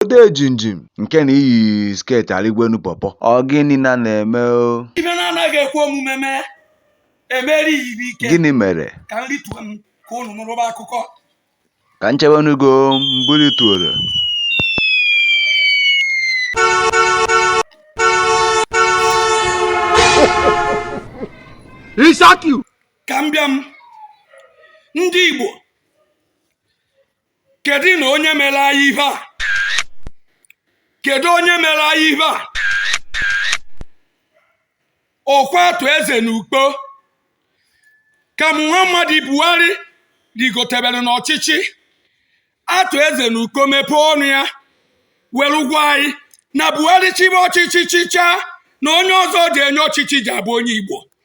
odejimjim nke na-eyi sket arịgwenu pọpọ ọ gịnị na na-eme o ihe na-anaghị ekwe omume mee emeri ya ihe ike gịnị mere ka nri tuo m ka unu nụrụba akụkọ ka nchewenugo mbuli tuoro ka m bịa m ndị igbo kedu na onye mere anyị ihe a kedu onye mere anyị ihe a ọ kwa arthur eze na ukpo ka muhammadu buhari rigotebere n'ọchịchị arthur eze na ukpo mepee ọnụ ya were gwa anyị na buhari chịbe ọchịchị chịchaa na onye ọzọ ji enye ọchịchị ji abụ onye igbo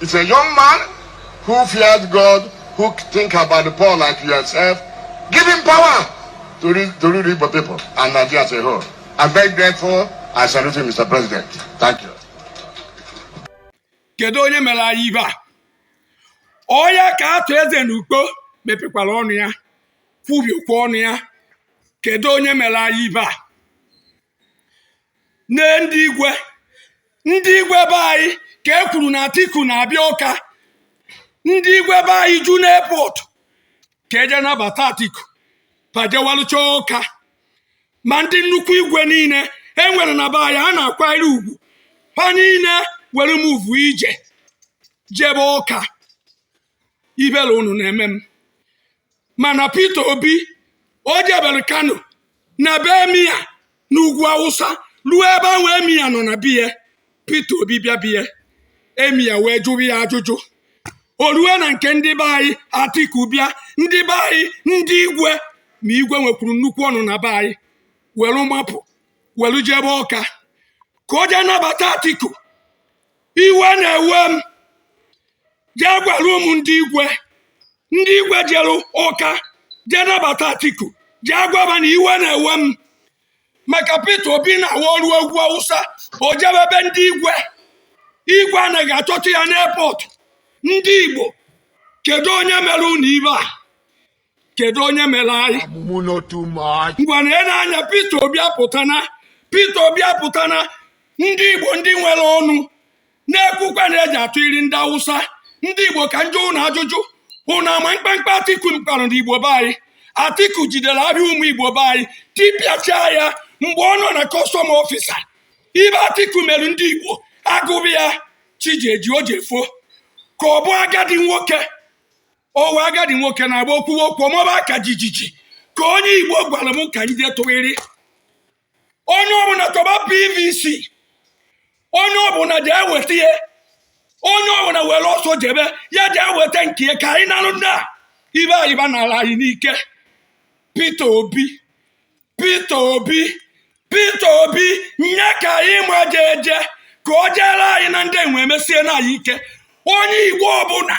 He's a young man who fears God, who think about the poor like yourself. Give him power to lead, to lead Igbo people and Nigeria as a whole. I'm very grateful. I salute you, Mr. President. Thank you. Kedu onye mere anyị ihe a? Ọ ya ka Arthur Eze na Ukpo mepekwara ọnụ ya, kwubiekwa ọnụ ya. Kedu onye mere anyị ihe a? nee ndị igwe ndị igwe be anyị ka e kwuru na Atiku na-abịa Ọka ndị igwe be anyị ju n'airport ka e je nabata Atiku gbajewalụcha Ọka ma ndị nnukwu igwe niile e nwere na be anyị ha na-akwanyere ugwu ha niile were muvu ije jebe Ọka ihere unu na-eme m mana Peter Obi o jebere Kano na be Emir n'ugwu Awụsa ruo ebe ahụ Emir nọ na be ya Peter Obi bịa be ya Emir wee jụrụ ya ajụjụ o ruo na nke ndị be anyị Atiku bịa ndị be anyị ndị igwe ma igwe nwekwuru nnukwu ọnụ na be anyị welu mapụ welu jebe Ọka ka o jee nabata Atiku iwe na-ewe m jee gwara mụ ndị igwe ndị igwe jere ọka jee nabata atiku jee gwaba na iwe na-ewe m maka peter obi na-awarụ ugwu awụsa o jebe be ndị igwe igwe anaghị achọta ya n'airport ndị igbo kedu onye mere unu ihe a kedu onye mere anyị ngwa na ele anya Peter Obi apụtana Peter Obi apụtana ndị Igbo ndị nwere ọnụ na-ekwukwa na eji atụ iri ndị Awụsa ndị Igbo ka m jụọ ụnụ ajụjụ ụnụ ama mkpamkpa Atiku kpara na Igbo be anyị Atiku jidere ahịa ụmụ Igbo be anyị tipịachaa ya mgbe ọ nọ na custom officer ihe Atiku mere ndị Igbo a gụba ya chi ejie chi efo ka ọ bụ agadi nwoke owe agadi nwoke na-agba okwuwe okwu ọ maba aka jijiji ka onye igbo gwara m ka anyị jee tụghịrị onye ọbụla chọba pvc onye ọbụla jee weta ya onye ọbụla were ọsọ jebe ya jee weta nke ya ka anyị narụ ndị a ibe anyị ba n'ala anyị n'ike Peter Obi Peter Obi Peter Obi ya ka anyị ma jee jee ka o jeere anyị na ndị enwe emesiena anyị ike onye igbo ọbụla